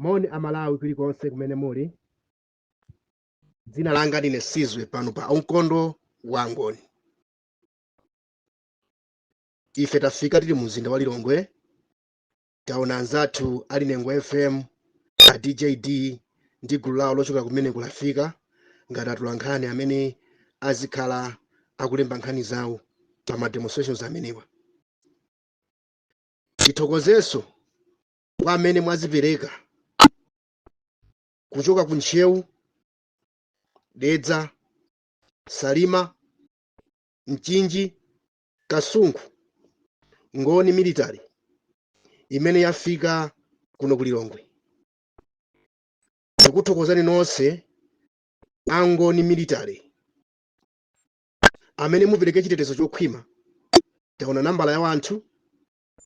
moni amalawi kulikonse kumene muli dzina langa ndine sizwe pano pa umkhonto wa ngoni ife tafika tili mu mzinda wa lilongwe taona anzathu ali nengo fm a djd ndi gulu lawo lochokera kumene ku blantyre ngati atula nkhani amene azikhala akulemba nkhani zawo pa ma demonstrations amenewa tithokozenso kwa amene mwadzipereka kuchoka ku ntcheu dedza salima mchinji kasungu ngoni military imene yafika kuno ku lilongwe tikuthokozani nonse angoni military amene mupereke chitetezo chokhwima taona nambala ya wanthu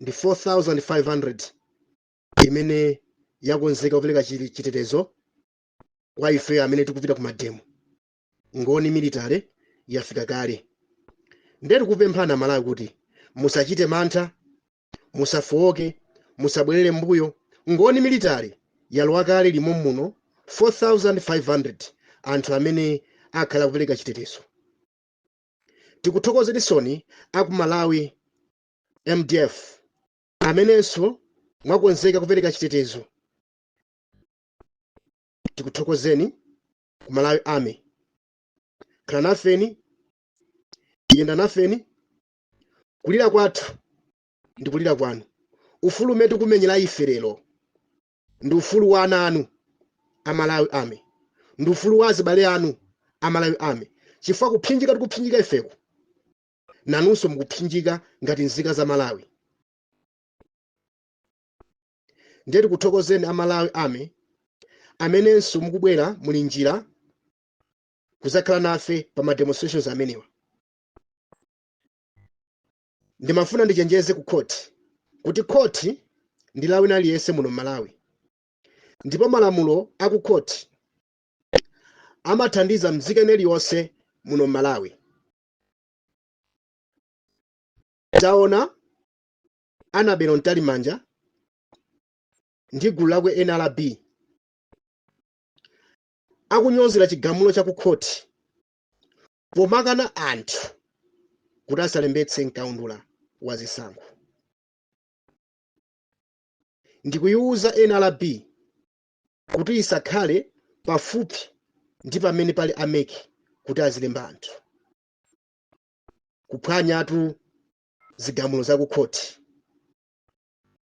ndi 4500 imene yakonzeka kupereka chitetezo kwa ife amene tikupita ku mademo ngoni military yafika kale nde tikupempha amalawi kuti musachite mantha musafowoke musabwerere mbuyo ngoni military yalowa kale limo muno 4500 anthu amene akhala kupereka chitetezo tikuthokozeninsoni aku malawi mdf amenenso mwakonzeka kupereka chitetezo tikuthokozeni ku malawi army khala nafeni yenda nafeni kulira kwathu ndi kulira kwanu ufulu umene tikumenyera ife lero ndi ufulu wa ana anu a malawi army ndi ufulu wa azibale anu a malawi army chifukwa kuphinjika tikuphinjika ifeko nanunso mukuphinjika ngati nzika za malawi ndiye tikuthokozeni a malawi army amenenso mukubwera muli njira kuzakhala nafe pa ma demonstrations amenewa ndimafuna ndichenjeze ku khoti kuti khoti ndi la wina aliyense muno m'malawi ndipo malamulo a ku khoti amathandiza mzika iliyonse muno m'malawi taona anabelo mtalimanja ndi gulu lakwe nrb akunyozera chigamulo cha ku khoti pomakana anthu kuti asalembetse mkaundula wa zisankho ndikuyiwuza nrb kuti isakhale pafupi ndi pamene pali a MEC kuti azilemba anthu kuphwanyatu zigamulo za kukhoti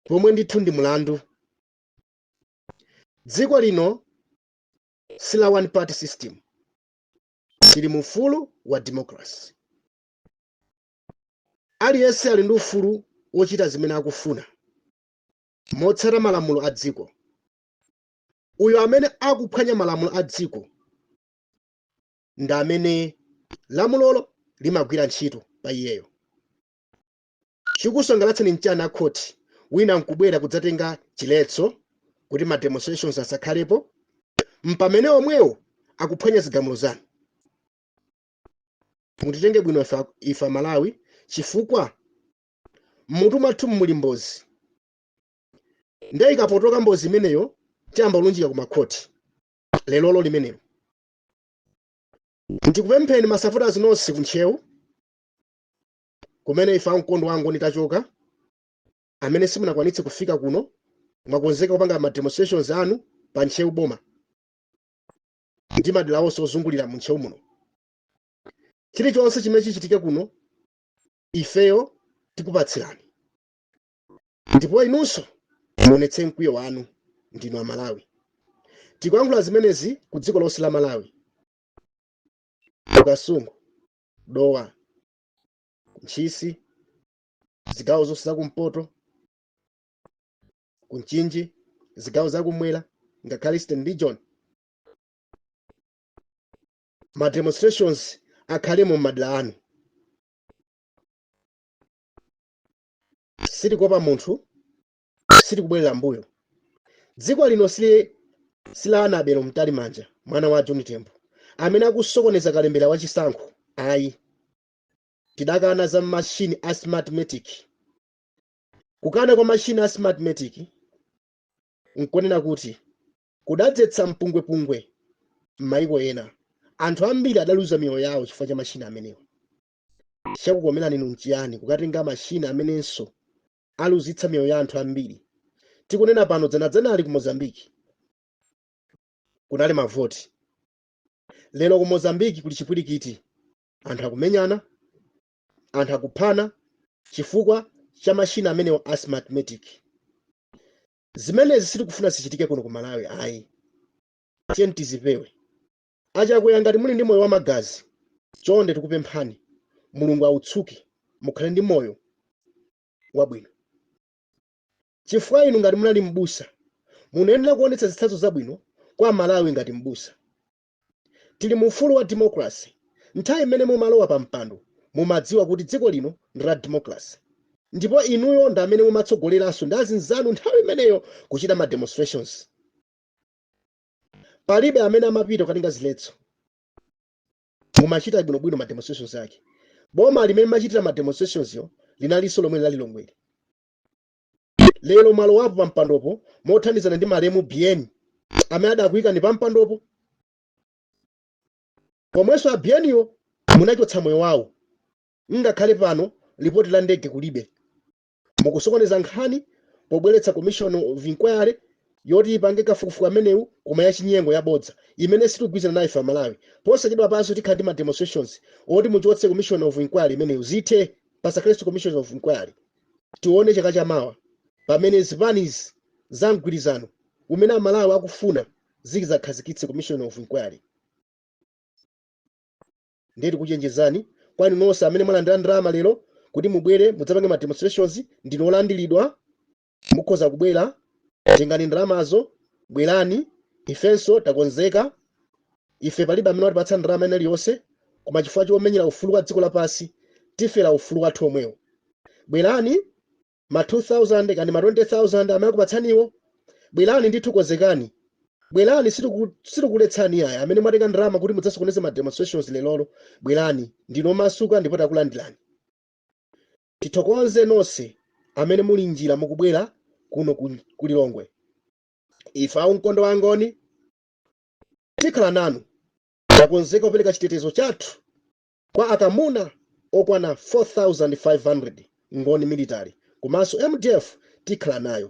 pomwe ndithu ndi mulandu dziko lino si la one party system tili mu ufulu wa democracy aliyense ali ndi ufulu wochita zimene akufuna motsata malamulo a dziko uyo amene akuphwanya malamulo a dziko ndi amene lamulolo limagwira ntchito pa iyeyo Chikusangalatsani mchiyani a court? Wina nkubwera kudzatenga chiletso kuti ma demonstrations asakhalepo mpamene omwewo akuphwanya zigamulo zanu. Mutitenge bwino ife a Malawi chifukwa mmutu mwathumu muli mbozi nde ikapotoka mbozi imeneyo tiyamba kulunjika ku ma court. Lerolo limenelo. Ndikupempheni ma supporters nonse ku Ntcheu kumene ife ankhondo a angoni tachoka amene simunakwanitse kufika kuno mwakonzeka kupanga ma demonstrations anu pa ntcheu boma ndi madera onse ozungulira mu ntcheu muno chilichonse chimene chichitike kuno ifeyo tikupatsirani ndipo inunso muonetse mkwiyo wanu ndinu amalawi tikuyankhula zimenezi ku dziko lonse la malawi ku kasungu dowa ntchisi zigawo zonse zakumpoto kumchinji zigawo zakumwera ngakhale eastern region ma demonstrations akhalemo m'madera anu sitikuopa munthu sitikubwerera mbuyo dziko lino si la annabel mtalimanja mwana wa john tembo amene akusokoneza kalembera wa chisankho ayi tidakana za mashini a smartmatic kukana kwa mashini a smartmatic nkonena kuti kudadzetsa mpungwepungwe m'mayiko ena anthu ambiri adaluza miyoyo yawo chifukwa cha mashini amenewa chakukomerani inu nchiyani kukatenga mashini amenenso aluzitsa miyoyo ya anthu ambiri tikunena pano dzanadzanali ku mozambiki kunali mavoti lero ku mozambiki kuli chipwirikiti anthu akumenyana anthu akuphana chifukwa cha mashini amenewa a smartmatic zimenezi sitikufuna zichitike kuno ku malawi ayi tiyeni tizipewe A Chakwera ngati muli ndi moyo wa magazi chonde tikupemphani Mulungu awutsuke mukhale ndi moyo wabwino chifukwa inu ngati munali m'busa munayenera kuonetsa zitsanzo zabwino kwa amalawi ngati m'busa. Tili mu ufulu wa democracy nthawi imene munkalowa pa mpando mumadziwa kuti dziko lino ndi la democracy ndipo inuyo ndi amene mumatsogoleranso ndi azinzanu nthawi imeneyo kuchita ma demonstrations. palibe amene amapita kukatenga ziletso mumachita bwinobwino ma demonstrations ake boma limene machitira ma demonstrations yo linalinso lomwe linali lolongwe lero mwalowapo pa mpandopo mothandizana ndi malemu bn amene adakuyikani pa mpandopo pomwenso a bn yo munachotsa moyo wawo ngakhale pano lipoti la ndege kulibe mukusokoneza nkhani pobweretsa commission of inquiry yoti ipange kafukufuku amenewu koma yachinyengo yabodza imene sitigwirizana nayo ife amalawi posachedwa panso tikhala ndi ma demonstrations oti muchotse commission of inquiry imeneyo zithe pasakhalenso commission of inquiry tione chaka chamawa pamene zipanizi za mgwirizano umene amalawi akufuna zidzakhazikitse commission of inquiry ndiye tikuchenjezani kwa inu nonse amene mwalandira ndalama lero kuti mubwere mudzapange ma demonstrations ndinu olandiridwa mukhoza kubwera tengani ndalamazo bwerani ifenso takonzeka ife palibe amene watipatsa ndalama ina iliyonse koma chifukwa chomenyera ufulu wa dziko lapansi tifera ufulu wathu omwewo bwerani ma 2000 kaya ndi ma 20000 amene akupatsaniwo bwerani ndithu konzekani bwerani sitikuletsani ayi amene mwatenga ndalama kuti mudzasokoneze ma demonstrations lerolo bwerani ndinu omasuka ndipo takulandirani tithokoze nonse amene muli njira mukubwera kuno ku lilongwe ife a umkhonto wa angoni tikhala nanu takonzeka kupereka chitetezo chathu Kwa akamuna okwana 4500 ngoni military komanso mdf tikhala nayo.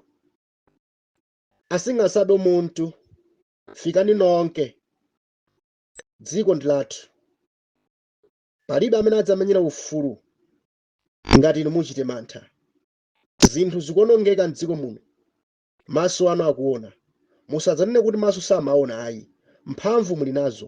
Asingesabi umuntu fikani nonke dziko ndi lathu palibe amene adzamenyera ufulu ngati inu muchite mantha zinthu zikuonongeka mdziko muno maso anu akuona musadzanene kuti maso samaona ayi mphamvu muli nazo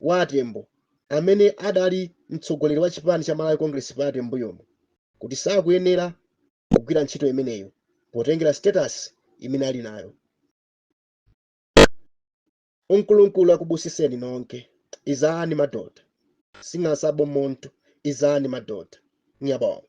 wa a Tembo amene adali mtsogoleri wa chipani cha Malawi Congress Party m'mbuyomu kuti sakuyenera kugwira ntchito imeneyo potengera status imene ali nayo. Unkulunkulu anibusiseni nonke. Izani madoda. Singasabi muntu. Izani madoda. Ngiyabonga.